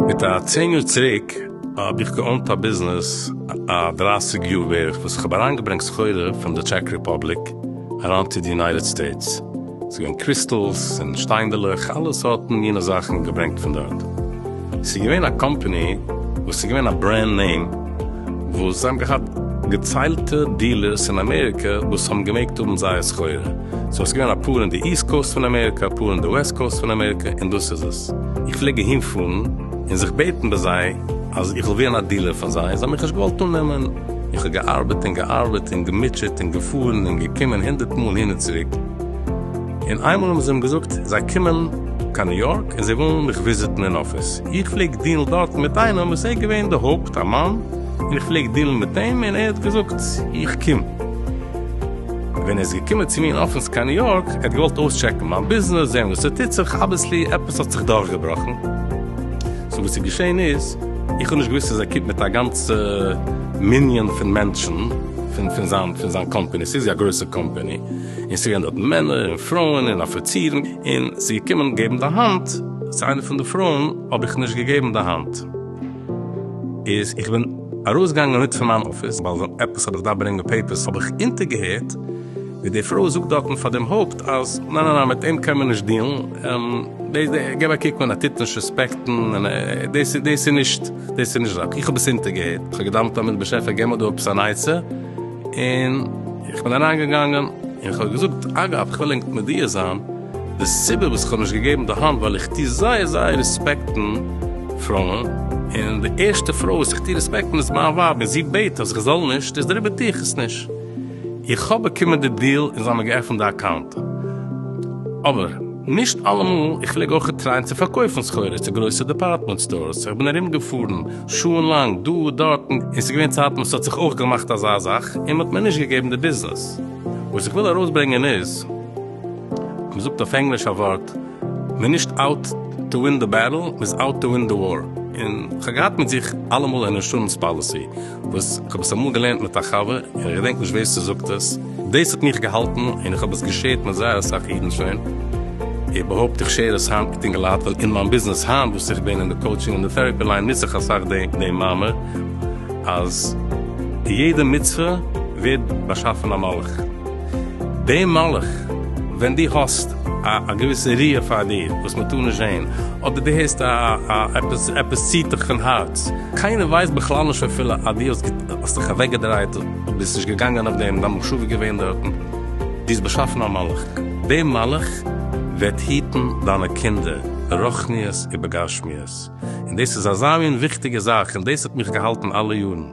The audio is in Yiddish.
מיט א צען יאר צוריק האב איך געאונט א ביזנעס א דרייסיג יאר בערך וואס איך האב אריינגעברענגט סחורה פון די טשעק רעפאבליק אריין צו די יונייטעד סטעיטס, ס'איז געווען קריסטאלס און שטיינדעלעך, אלע סארטן מינע זאכן געברענגט פון דארט. ס'איז געווען א קאמפעני וואס איז געווען א ברענד נעים, וואס זיי האבן געהאט געציילטע דיעלערס אין אמעריקע וואס האבן געמעגט האבן זייער סחורה. סאו ס'איז געווען אפאר אין די איסט קאוסט פון אמעריקע, אפאר אין די וועסט קאוסט פון אמעריקע, און דאס איז עס. איך פלעג אהין פארן און זיך בעטן ביי זיי אז איך וויל ווערן א דיעלער פון זיי, זיי האבן מיך נישט געוואלט אננעמען. איך האב געארבעט און געארבעט און געמוטשעט און געפארן און געקומען הונדערט מאל אהין און צוריק, און איינמאל האבן זיי אים געזאגט זיי קומען קיין ניו יארק און זיי ווילן מיך וויזיטן אין אפיס, איך פלעג דילן דארט מיט איינעם וואס ער איז געווען די הויפט א מאן און איך פלעג דילן מיט אים און ער האט געזאגט איך קום, ווען ער איז געקומען צו מיר אין אפיס קיין ניו יארק, ער האט געוואלט אויסטשעקן מיין ביזנעס, זען וואס ס'טוט זיך, אבוויסלי עפעס האט זיך דורכגעבראכן, סאו וואס איז געשען איז, איך האב נישט געוואוסט אז ער קומט מיט א גאנצע מנין פון מענטשן פון פון זיין פון זיין קאמפעני, ס'איז יא גרויסע קאמפעני, און ס'איז געווען דארט מענער און פרויען און אפיצירן, און ס'איז געקומען געבן די האנט צו איינע פון די פרויען, האב איך נישט געגעבן די האנט, איז איך בין ארויסגעגאנגען מיט פון מיין אפיס, ווייל עפעס האב איך געדארפט ברענגען פעיפערס, האב איך אונטערגעהערט, ווי די פרוי זאגט דארטן פאר דעם הויפט אז ניין ניין ניין מיט אים קען מען נישט דילן, דאס געב א קוק ווען ער טוט נישט רעספעקטן, דאס דאס איז נישט דאס איז נישט זאך, איך האב עס אונטערגעהערט, איך האב געדארפט האבן באשעפער געב מיר דא עפעס אן עצה, און איך בין אריינגעגאנגען און איך האב געזאגט, אגב איך וויל ענק מודיע זיין, די סיבה וואס איך האב נישט געגעבן די האנט ווייל איך טוה זייער זייער רעספעקטן פרויען, און די ערשטע פרוי וואס איך טוה רעספעקטן איז מיין ווייב און זי בעט אז איך זאל נישט, איז דעריבער טוה איך עס נישט. איך האב באקומען די דיל און זיי האבן געעפנט די אקאונט, אבער נישט אלעמאל, איך פלעג אויך טרייען צו פארקויפן סחורה צו גרויסע דעפארטמענט סטארס, איך בין ארום געפארן שעה לאנג דא דארט, און ס'איז געווען צייטן וואס ס'האט זיך אויך געמאכט אזא זאך און מ'האט מיר נישט געגעבן די ביזנעס, וואס איך וויל ארויסברענגען איז, מ'זאגט אויף ענגליש א ווארט, מ'איז נישט אוט טו ווין די בעטל, מ'איז אוט טו ווין די וואר, און כ'האב געהאט מיט זיך אלעמאל אן אינשורענס פאליסי, וואס איך האב עס אמאל געלערנט מיט א חבר, און איך געדענק נישט ווער ס'זאגט עס, דאס האט מיך געהאלטן, און איך האב עס געשערט מיט זייער אסאך אידן שוין, איך באהויפט איך שער עס היינט מיט אינגעלייט, ווייל אין מיין ביזנעס היינט וואס איך בין אין די קאוטשינג און די טעראפי ליין נוץ איך אסאך דעם מאמר, אז יעדע מצוה ווערט באשאפן א מלאך, דער מלאך ווען דו האסט א געוויסע ריאה פאר דיר וואס מען טאר נישט זען, אדער דו הערסט א עפעס, עפעס ציט דיך פון הארץ, קיינער ווייסט בכלל נישט אפילו אז דו האסט זיך אוועקגעדרייט, ביסט נישט געגאנגען אויף דעם, דיין מחשבה איז געווען דארטן. דו האסט באשאפן א מלאך, דער מלאך וועט היטן דיינע קינדער ברוחניות ובגשמיות, און דאס איז אזא מין וויכטיגע זאך, און דאס האט מיך געהאלטן אלע יארן.